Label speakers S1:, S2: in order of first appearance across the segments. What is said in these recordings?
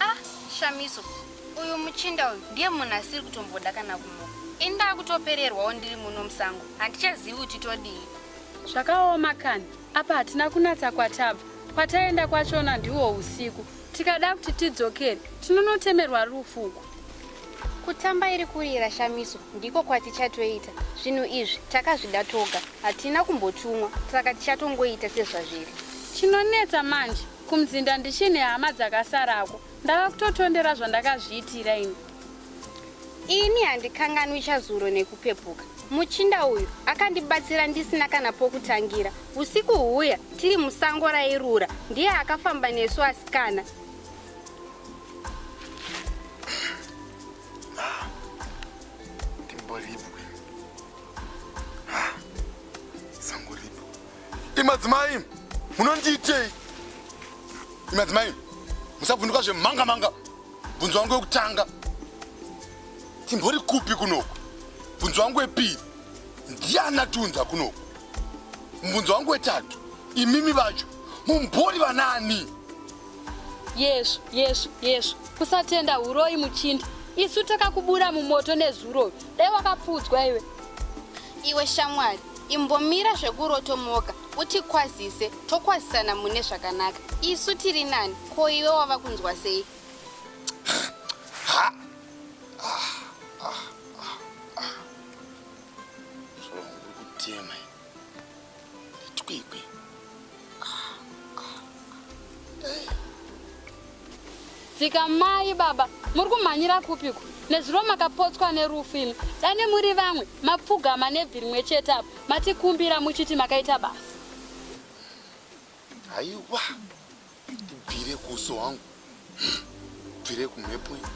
S1: Ah, Shamiso, uyu muchinda uyu ndiye munhu asiri kutomboda kana kunoka. Ini ndakutopererwawo ndiri muno musango, handichazivi kuti todii. Zvakaoma
S2: kani, apa hatina kunatsa kwatabva. Kwataenda kwachona ndiwo usiku, Tikada kuti tidzokere tinonotemerwa rufu uku. Kutamba
S1: iri kurira shamiso ndiko kwatichatoita. Zvinhu izvi takazvida toga, hatina kumbotumwa saka tichatongoita sezvazviri. Chinonetsa
S2: manje, kumzinda ndichine hama dzakasarako. Ndava kutotondera zvandakazviitira ini.
S1: Ini handikanganwi chazuro nekupepuka. Muchinda uyu akandibatsira ndisina kana pokutangira. Usiku huya tiri musango rairura ndiye akafamba nesu asikana.
S3: Imadzimai munondiitei? Imadzimai musabvunduka zvemhanga manga. bvunzo wangu wekutanga timbori kupi kunoku bvunzo wangu wepiri ndiani atiunza kunoku mubvunzo wangu wetatu imimi vacho mumbori vanaani yesvo yesvo
S2: yesvo kusatenda uroyi muchindi isu takakubura mumoto nezuro Dai wakapfuudzwa iwe. Iwe
S1: shamwari, imbomira zvekurotomoka utikwazise tokwazisana mune zvakanaka. Isu tiri nani, ko iwe wava kunzwa sei? Ha! Ah, ah, ah,
S3: ah. Zvomuri kutema. Twigwi.
S2: Dzika mai baba, muri kumhanyira kupiko? Nezuro makapotswa nerufu imi. Dane muri vamwe, mapfugama nebvi rimwe chete apa. Matikumbira muchiti makaita basa.
S3: Haiwa. Bvire kuso wangu. Bvire kumhepo iyi.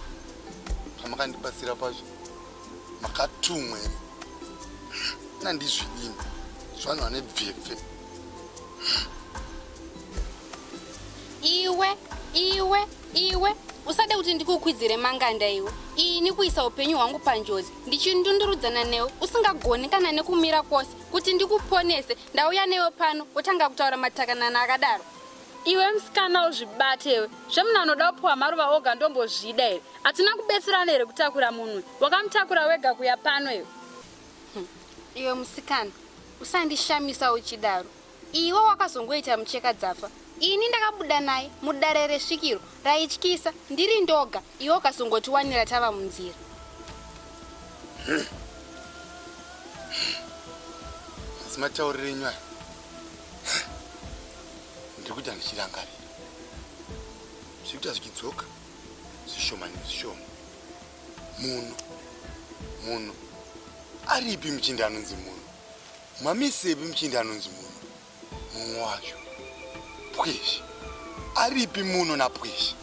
S3: Pamakandibatsira pacho. Makatumwe. Nandizvidini. Zvanhu vane bvepfe.
S1: Iwe, iwe, iwe. Usade kuti ndikukwidzire manganda iwe. Ini kuisa upenyu hwangu panjodzi. Ndichindundurudzana newe usingagoni kana nekumira kwose kuti ndikuponese. Ndauya newe pano wotanga kutaura matakanana akadaro. Iwe msikana
S2: uzvibate iwe. Zvemuna anoda kupiwa maruva oga ndombozvida here? Hatina kubetserana here kutakura munwe? Wakamutakura wega kuya pano iwe. Hmm.
S1: Iwe musikana, usandishamisa uchidaro. Iwe wakazongoita mucheka dzafa. Ini ndakabuda naye mudare resvikiro raityisa ndiri ndoga iwe ukazongotiwanira tava munzira.
S3: Hmm. Asi matauriro enyu aya. ndiri kuita ndichirangarira zviri kuita zvichidzoka zvishoma nezvishoma muno muno aripi muchinda anonzi muno mamisepi muchinda anonzi muno mumwe wacho pwezhi aripi muno napwezhi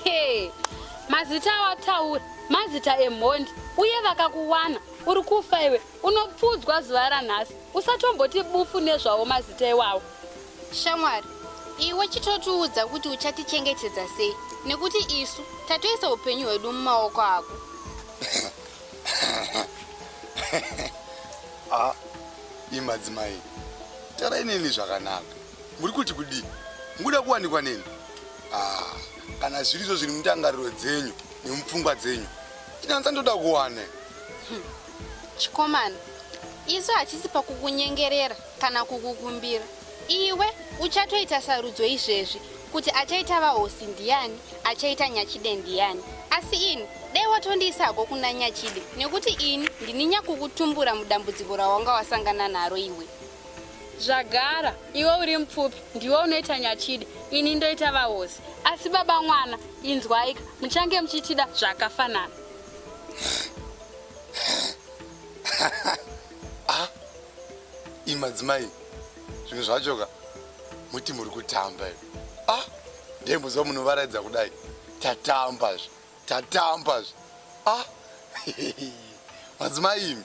S3: hey, mazita
S2: awataura mazita emhondi uye vakakuwana uri kufa iwe Unopfuudzwa zuva ranhasi. Usatomboti bufu nezvawo mazita iwawo. Shamwari,
S1: iwe chitotiudza kuti uchatichengetedza sei nekuti isu tatoisa upenyu hwedu mumaoko ako.
S3: Ah, imi madzimai, tarai neni zvakanaka. Muri kuti kudii? Mukuda kuwanikwa neni? Ah, kana zvirizvo zviri mundangariro dzenyu nemupfungwa dzenyu, inanza ndoda kuwane. Chikomana,
S1: isu hatisi pakukunyengerera kana kukukumbira. Iwe uchatoita sarudzo izvezvi kuti achaita vahosi ndiani, achaita nyachide ndiani. Asi ini dai watondiisako kuna nyachide nekuti ini ndini nyakukutumbura mudambudziko rawanga wasangana naro iwe. Zvagara,
S2: iwe uri mupfupi, ndiwe unoita nyachide, ini ndoita vahosi. Asi baba mwana, inzwaika, muchange muchitida zvakafanana.
S3: ah, imi madzimai zvimwe zvacho ka muti muri kutamba imi ah, ndembozva munovaraidza kudai tatamba zve tatamba zve ah, madzimai imi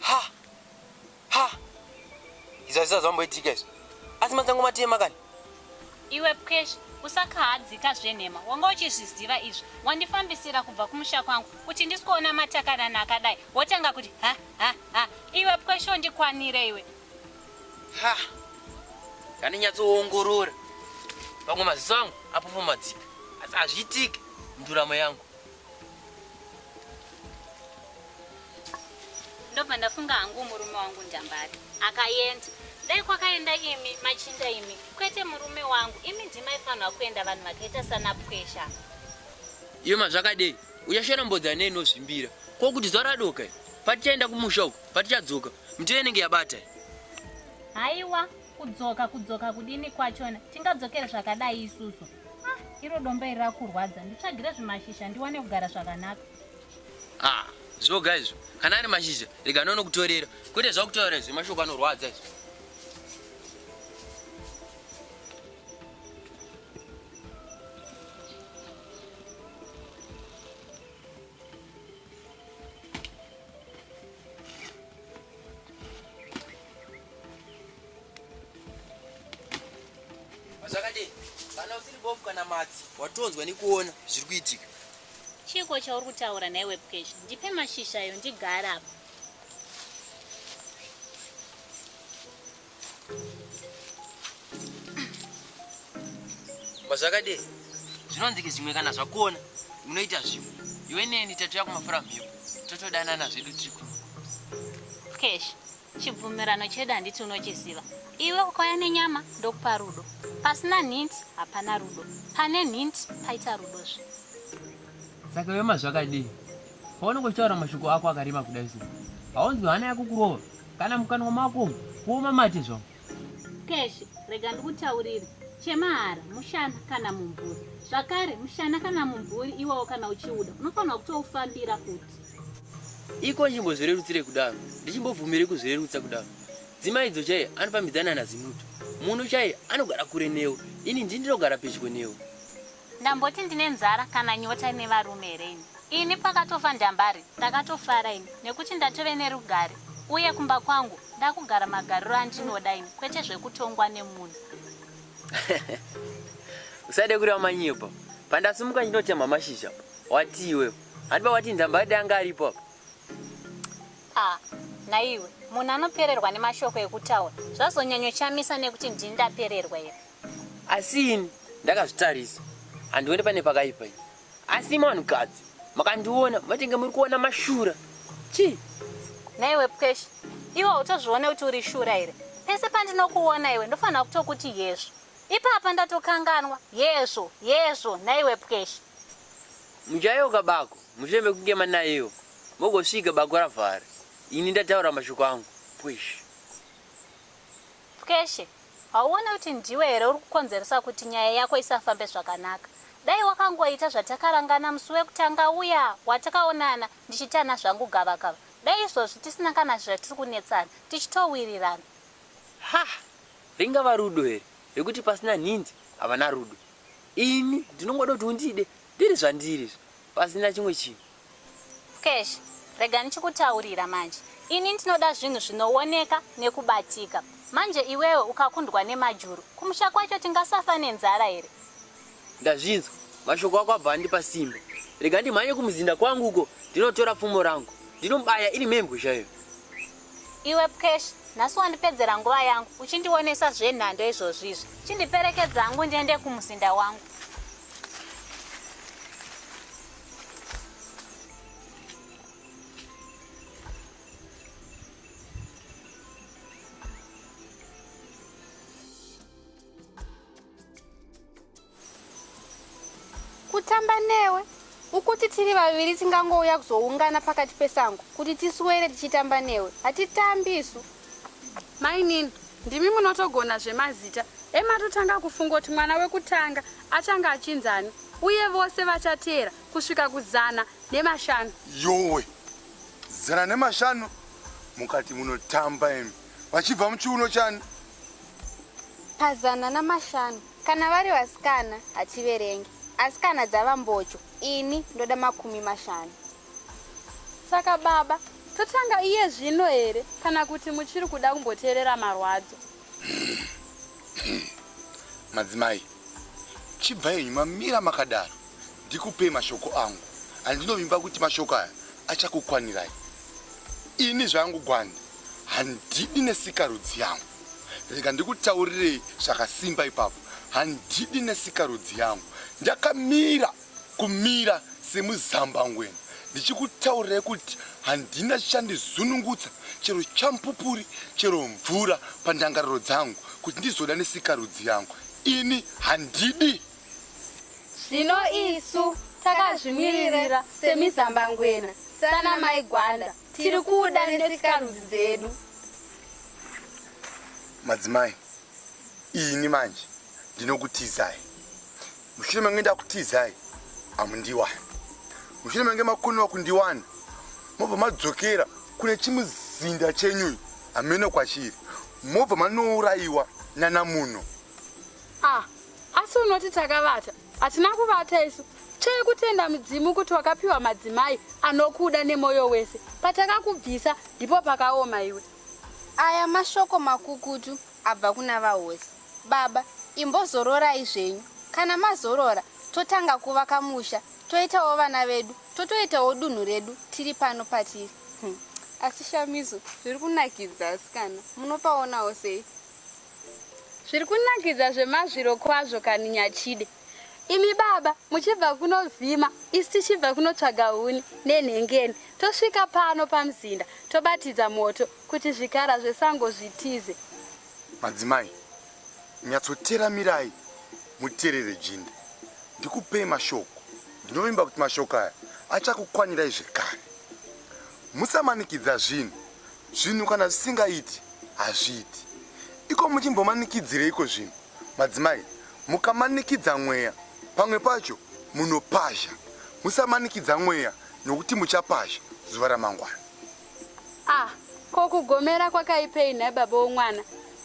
S4: ha ha izazisa zvamboitika izvi asi matsango matema kani iwe
S2: pkesh usakahadzika zvenhema wanga uchizviziva izvi wandifambisira kubva kumusha kwangu kuti ndisikuona matakanana akadai wotanga kuti ha ha ha iwe pkesh ondikwanire iwe ha
S4: kaninyatsoongorora pamwe maziso angu apofomadzika asi hazviitike nduramo yangu
S2: ndobva ndafunga hangu murume wangu njambari akaenda dai kwakaenda imi machinda imi kwete murume wangu imi ndimaifanirwa kuenda vanhu vakaita sana pwesha iyo
S4: mazvakadei uchashona mbodza nei inozvimbira ko kuti zuva radoka patichaenda kumusha uku patichadzoka mitiyo inenge yabata
S2: haiwa Kudzoka kudzoka kudini kwachona tingadzokere zvakadai isusu. Ah, iro domba iri rakurwadza nditsvagire zvimashizha ndiwane kugara zvakanaka. Ah,
S4: zvoga izvo kana ari mashizha rega nono kutorera kwete zvakutaura izvo mashoko anorwadza izvo. zvakadini kana usiri bofu kana matsi watonzwa nekuona zviri kuitika chiiko
S2: chauri kutaura nhai webcash ndipe mashizha ayo ndigara apa
S4: Mazvakadei? Zvinonzi zvimwe kana zvakuona unoita zvimwe. Iwe neni tatuya kumafura mhepo. Totodanana zvedu tiri kuno.
S2: Cash. Chibvumirano chedu handiti unochiziva. Iwe ukauya nenyama ndokupa rudo. Pasina nhinti hapana rudo. Pane nhinti paita rudo zve.
S4: Saka iwe mazvakadei? Paunenge uchitaura mashoko ako akareba kudai so, haunzwi hana yako kurova kana mukanwa mako umu kuoma mate zvawo. Cash,
S2: rega ndikutaurire. Chemahara, mushana kana mumvuri. Zvakare, mushana kana mumvuri iwawo kana uchiuda, unofanirwa kutoufambira futi. Iko
S4: ndichimbozvirerutsire kudaro, ndichimbobvumire kuzvirerutsa kudaro. Dzimai idzo chaiye anofambidzana naZimuto. Munu chaiye anogara kure newe, ini ndini ndinogara pedyo newe. Ndamboti
S2: ndine nzara kana nyota ine varume here ini? Ini pakatofa Ndambari ndakatofara ini nekuti ndatove nerugare uye kumba kwangu ndakugara magariro andinoda ini kwete zvekutongwa nemunhu.
S4: Usade kureva manyepo. Pandasumuka ndinotemha mashizha apa. Watii iwewe? Handi pawati Ndambari dai anga aripo apa. Ah, naiwe
S2: munhu anopererwa nemashoko ekutaura zvazonyanyochamisa nekuti ndini ndapererwa here? Asi ini
S4: ndakazvitarisa handione pane pakaipa ini. Asi imi vanhukadzi makandiona matenge muri kuona mashura. Chii? Naiwe
S2: Pweshi, iwe hautozvione kuti uri shura here? Pese pandinokuona iwe ndofanira kutokuti yezvo. Ipapa ndatokanganwa. Yezvo, yezvo, naiwe Pweshi. Muchayeuka
S4: bako mushure mekunge manaiwa mogosvika bako ravhara. Ini ndataura mashoko angu. Pweshi.
S2: Mkweshe, hauone kuti ndiwe here uri kukonzeresa kuti nyaya yako isafambe zvakanaka. Dai wakangoita zvatakarangana musi wekutanga uya watakaonana ndichitana zvangu gavakava, dai izvozvi tisina kana zvatiri kunetsana, tichitowirirana. Hah!
S4: Ringava rudo here rekuti pasina nhindi havana rudo. Ini ndinongoda kuti undide ndiri zvandiri izvi pasina chimwe chinhu. Mksh
S2: rega ndichikutaurira manje ini ndinoda zvinhu zvinooneka nekubatika manje iwewe ukakundwa nemajuru kumusha kwacho tingasafa nenzara here. Ndazvinzwa
S4: mashoko ako abva andipa simba rega ndimhanye kumuzinda kwangu uko ndinotora pfumo rangu ndinomubaya iri mhembwe chaiyo. Iwe
S2: Mksh nhasi wandipedzera nguva yangu uchindionesa zvenhando izvozvizvi chindiperekedza hangu ndiende kumuzinda wangu.
S1: kutamba newe ukuti tiri vaviri tingangouya kuzoungana pakati pesango kuti tiswere tichitamba newe hatitambi isu Mainini,
S5: ndimi munotogona zvemazita. Ematotanga kufunga kuti mwana wekutanga achange achinzani uye vose vachateera kusvika kuzana nemashanu. Yowe,
S3: zana nemashanu mukati munotamba imi vachibva muchiuno chani? Pazana
S1: namashanu kana vari vasikana hativerenge asi kana dzava mbocho ini ndoda makumi mashanu.
S5: Saka baba, totanga iye zvino here kana kuti muchiri kuda kumboteerera marwadzo?
S3: Madzimai, chibva henyu mamira makadaro ndikupei mashoko angu andinovimba kuti mashoko aya achakukwanirai. Ini zvangu gwanda handidi nesikarudzi yangu. Rega ndikutaurirei zvakasimba ipapo, handidi nesikarudzi yangu. Ndakamira kumira semuzambangwena ndichikutaurirai kuti handina chandizunungutsa chero champupuri chero mvura pandangariro dzangu kuti ndizoda nesikarudzi yangu ini handidi
S1: zvino isu takazvimiririra semizambangwena sana mai gwanda tiri kuda nesikarudzi dzedu
S3: madzimai ini manje ndinokutizai mushure menge ndakutizai amundiwani mushure menge makoniwa kundiwana mobva madzokera kune chimuzinda chenyuyi hameno kwachiri mobva manourayiwa nana muno ah,
S5: asi unoti takavata hatina kuvata isu chekutenda mudzimu kuti wakapiwa madzimai anokuda nemwoyo wese patakakubvisa ndipo pakaoma iwe aya
S1: mashoko makukutu abva kuna vahosi. Baba, imbozororai zvenyu. Kana mazorora, totanga kuvaka musha, toitawo vana vedu, totoitawo dunhu redu tiri pano patiri. Hm. Asi Shamiso, zviri kunakidza asikana. Munopaonawo sei?
S5: Zviri kunakidza zvemazviro kwazvo kani Nyachide. Imi baba muchibva kunovhima isi tichibva kunotsvaga huni nenhengeni tosvika pano pamuzinda tobatidza moto Kuti zvikara zvesango zvitize. Madzimai,
S3: nyatsoteramirai muterere Jinde. Ndikupei mashoko. Ndinovimba kuti mashoko aya achakukwanirai zvekare. Musamanikidza zvinhu. Zvinhu kana zvisingaiti, hazviiti. Iko muchimbomanikidzireiko zvinhu? Madzimai, mukamanikidza mweya, pamwe pacho munopazha. Musamanikidza mweya nokuti muchapazha zuva ramangwana. Ah, ko
S5: kugomera kwakaipei nhai baba womwana?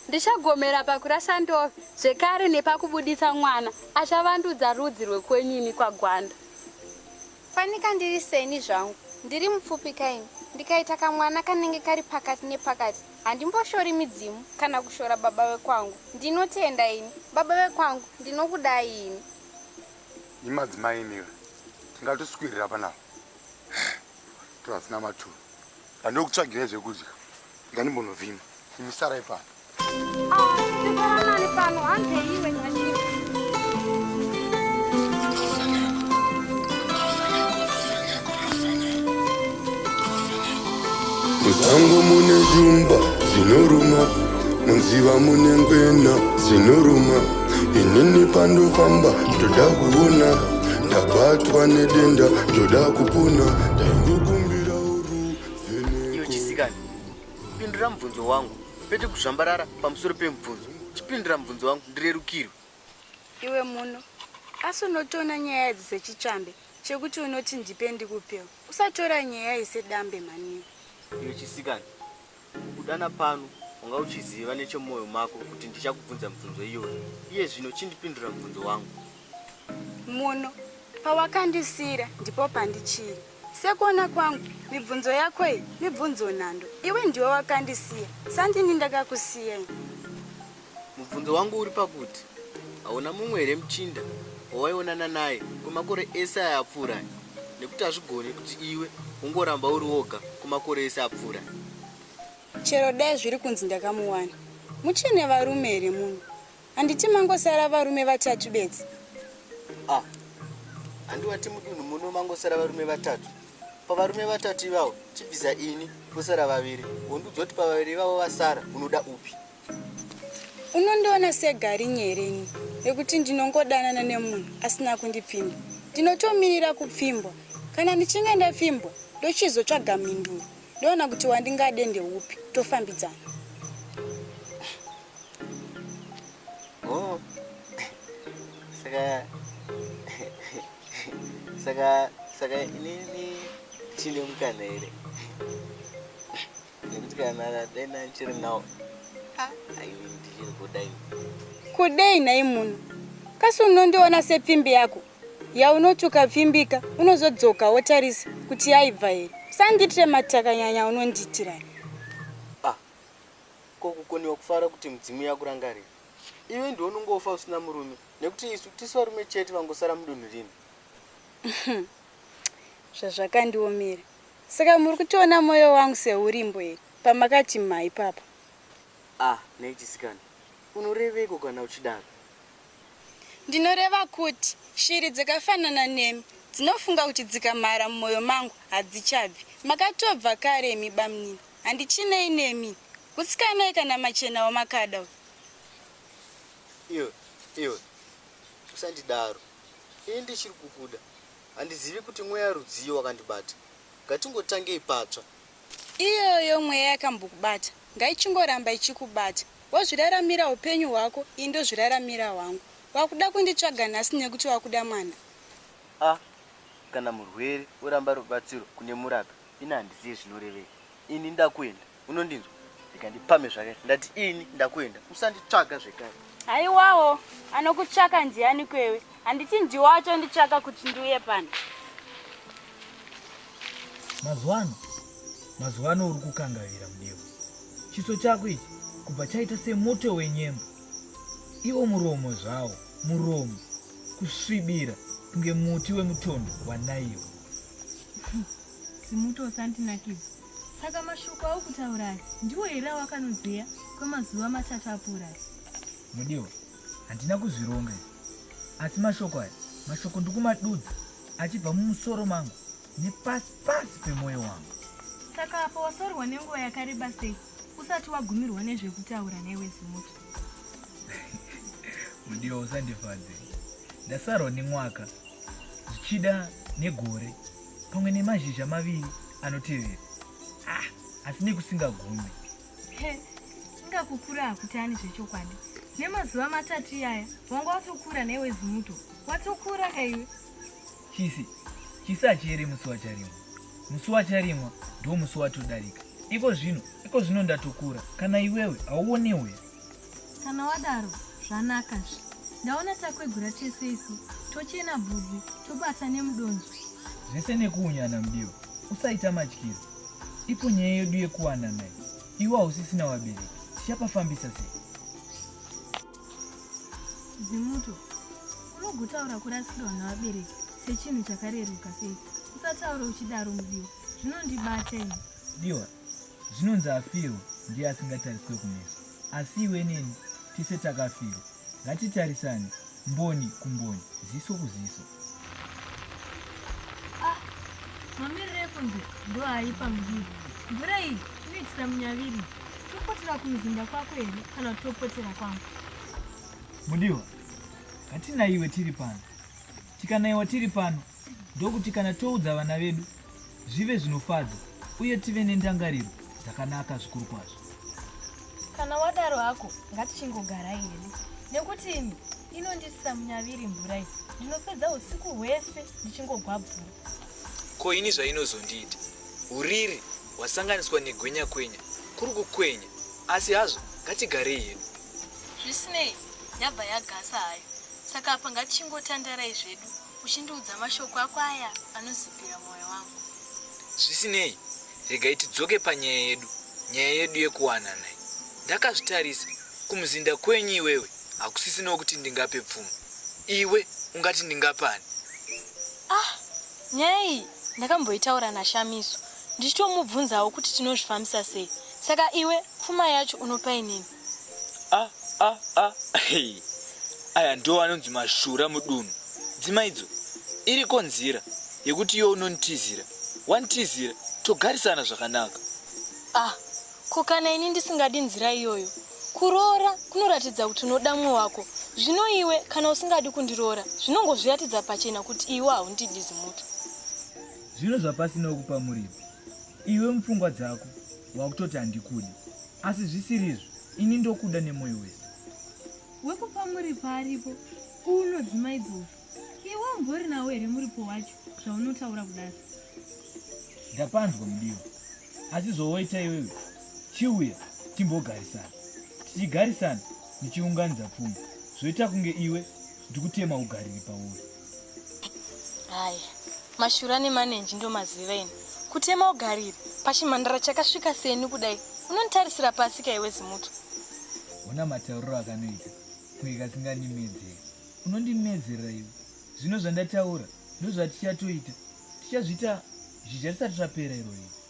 S5: Ndichagomera pakurasa ndove zvekare nepakubuditsa mwana achavandudza rudzi rwekwenyu ini kwagwanda.
S1: Fanika ndiri seni zvangu, ndiri mupfupi kaini. Ndikaita kamwana kanenge kari pakati nepakati handimboshori midzimu kana kushora baba vekwangu. Ndinotenda ini. Baba vekwangu ndinokudai ini.
S3: Imadzimai imira. Tingatoswirira panapa. Matoto asina maturo. Ndandokutsvagirai zvekudya. Ndandimbonovhima. Imi sarai pano. Ah, ndisaranani
S5: pano. Hande iwe
S6: nyanyiro. Musango mune zvumba zvinoruma, munziva mune ngwena dzinoruma. Inini pandofamba ndoda kuona ndabatwa nedenda ndoda kupona ndaingokumbira uruvenekochisikazi
S4: pindura mubvunzo wangu pete kuzvambarara pamusoro pemubvunzo chipindura mubvunzo wangu ndirerukirwe iwe
S5: muno asi unotoona nyaya idzi sechitsvambe chekuti unoti ndipe ndikupewo usatora nyaya isedambe mhaniwe inochisikana
S4: Kukudana pano, wanga uchiziva nechemumoyo mako kuti ndichakubvunza mibvunzo iyoyo. Iye zvino chindipindura mubvunzo wangu.
S5: Muno. Pawakandisiira ndipo pandichiri. Sekuona kwangu, mibvunzo yako iyi mibvunzo nhando. Iwe ndiwe wakandisiya, sandini ndakakusiya ini.
S4: Mubvunzo wangu uri pakuti hauna mumwe here muchinda wawaionana naye kwemakore ese aya apfuura aya nekuti hazvigoni kuti iwe ungoramba uri woga kwemakore ese apfuura aya.
S5: Chero dai zviri kunzi ndakamuwana, muchiri nevarume here muno? Handiti mangosara varume vatatu bedzi? Ah,
S4: handi wati mudunhu muno mangosara varume vatatu? Pavarume vatatu ivavo chibvisa ini posara vaviri, wondiudza kuti pavaviri ivavo vasara unoda upi?
S5: Unondiona segari nyerini rekuti ndinongodanana nemunhu asina kundipfimba.
S7: Ndinotomirira kupfimbwa. Kana ndichinge ndapfimbwa, ndochizotsvaga mhinduro. Ndoona kuti wandingade ndeupi, tofambidzana. Oh.
S4: Saka saka saka inini chine mukana here? Nekuti kana dai ndichiri nawo ndichiri kuda ini. Kudei
S7: nhai munhu kasi unondiona sepfimbi yako yaunoti ukapfimbika unozodzoka wotarisa kuti yaibva here usandiitire matakanyanya unondiitira ah,
S4: ko kukoniwa kufara kuti mudzimu yakurangarira iwe ndiwo unongofa usina murume nekuti isu tisi varume chete vangosara mudunhu rino zvazvakandiomera
S7: Saka muri kutoona moyo wangu seurimbo here pamakati mha ipapa. Ah nhai
S4: chisikana unoreveiko kana uchidaro.
S7: Ndinoreva kuti shiri dzakafanana nemi dzinofunga kuti dzikamhara mumoyo mangu hadzichabvi. Makatobva kare imi bamnini handichinei nemi. Hutsikanai kana machena wamakada uyu. Iwe
S4: iwe usandidaro ini ndichiri kukuda Handizivi kuti mweya rudzii wakandibata. Ngatingotangei patsva. Iyoyo
S7: mweya yakambokubata ngaichingoramba ichikubata. Wazviraramira hupenyu hwako ini ndozviraramira hwangu. Wakuda kunditsvaga nhasi nekuti wakuda mwana? Ah
S4: kana murwere oramba rubatsiro kune murapi ini handizive zvinorevei. Ini ndakuenda. unondinzwa rega ndipame zvake ndati ini ndakuenda usanditsvaga zvekare haiwawo
S5: anokutsvaka ndiani kwewe handiti ndiwo acho nditsvaka kuti ndiuye pano mazuva
S8: ano mazuva ano uri kukangavira mudewa chiso chako ichi kubva chaita semuto wenyembo iwo muromo zvawo muromo kusvibira kunge muti wemutondo wanaiwo
S9: simuto usandinakidza Saka mashoko awo kutaura aya ndiwo here awakanozeya kwemazuva matatu apfuura aya? Mudiwa,
S8: handina kuzvironga asi mashoko aya mashoko ndikumadudza achibva mumusoro mangu nepasi pasi pemwoyo wangu. Saka apo
S9: wasorwa nenguva yakareba sei usati wagumirwa nezvekutaura newe zimuti?
S8: Mudiwa, usandifadze ndasarwa nemwaka zvichida negore pamwe nemazhizha maviri anotevera ah, asi nekusingagumi ingakukura
S9: hakutani zvechokwadi nemazuva matatu iyaya wanga watokura newe zimuto watokura kaiwe chisi
S8: chisi hachiere musi wacharimwa musi wacharimwa ndo musi watodarika iko zvino iko zvino ndatokura kana iwewe hauonewe Kana wadaro
S9: zvanaka zve. Ndaona takwegura tese isu tochena bvudzi tobata nemudonzvo. Zvese
S8: nekuunyana mudiwa. Usaita matyiro. Ipo nyaya yedu yekuwanana iyi. Iwe hausisina wabereki. Tichapafambisa sei?
S9: Zimuto, unogotaura kurasikirwa navabereki sechinhu chakareruka sei? Usataura uchidaro mudiwa. Zvinondibata ini. Diwa,
S8: zvinonzi afirwa ndiye asingatariswe kumeso. Asi iwe neni tese takafirwa. Ngatitarisane mboni kumboni, ziso kuziso. Ah,
S9: mamiriro ekunze ndo aipa mudiri. Mvura iyi inoitisa munyaviri. Topotera kumuzinda kwako here kana kuti topotera kwangu?
S8: Mudiwa, ngatinaiwe tiri pano. Tikanaiwa tiri pano, ndokuti kana toudza vana vedu zvive zvinofadza uye tive nendangariro dzakanaka zvikuru kwazvo kana
S9: wadaro hako ngatichingogarai hedu nekuti ini inondisisa munyaviri mvura iyi ndinopedza usiku hwese ndichingogwabvura ko
S10: ini zvainozondiita uriri hwasanganiswa negwenya kwenya kuri kukwenya asi hazvo ngatigarei hedu zvisinei
S9: yabva yagasa hayo saka apa ngatichingotandarai zvedu Uchindiudza mashoko ako aya anozipira mwoyo wangu. Zvisinei,
S10: regai tidzoke panyaya yedu, nyaya yedu yekuwanana iyi. Ndakazvitarisa, kumuzinda kwenyu iwewe hakusisinawo kuti ndingape pfuma. Iwe ungati ndingapani? Ah,
S9: nyaya iyi ndakamboitaura naShamiso ndichitomubvunzawo kuti tinozvifambisa sei. Saka iwe pfuma yacho unopainini?
S10: aya ndiwo anonzi mashura mudunhu dzimaidzo iriko nzira yekuti iyo unontizira wantizira togarisana zvakanaka ah
S9: ko kana ini ndisingadi nzira iyoyo kuroora kunoratidza kuti unoda mumwe wako zvino iwe kana usingadi kundiroora zvinongozviratidza pachena kuti iwe haundidi zimuti zvino
S8: zvapasina wekupa muripi Iwe mupfungwa dzako wakutoti handikude asi zvisiri izvo ini ndokuda nemoyo wese. Wekupa
S9: muripo aripo unodzimaidzora iwe umbori nawo here muripo wacho zvaunotaura kudaro?
S8: Ndapanzwa mudiwa asi zvawaita iwewe chiuya timbogarisana tichigarisana ndichiunganidza pfuma zvoita kunge iwe ndikutema ugariri pauri.
S9: Hai, mashura nemanenji ndomaziva ini. Kutema ugarire pachimhandara chakasvika seni kudai. Unonitarisira pasi ka iwe zimuto. Ona
S8: matauriro akanoita kunge kasingandimedzeri. Unondimedzerera iwe. Zvino zvandataura ndozvatichatoita. Tichazviita zvicha tisati zvapera irori.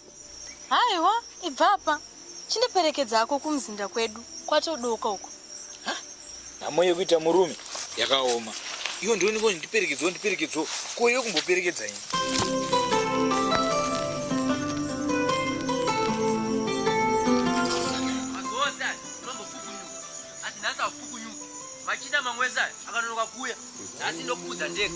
S8: Haiwa,
S9: ibva apa. Chindiperekedza hako kumuzinda kwedu kwatodoka uko. Ha?
S10: Nhamo yekuita murume yakaoma. Iwe ndiwe ndiko ndiperekedzawo ndiperekedzawo. Ko iwe kumboperekedza ini.
S4: Machina mamweza akanonoka kuya. Nhasi ndokupudza ndega.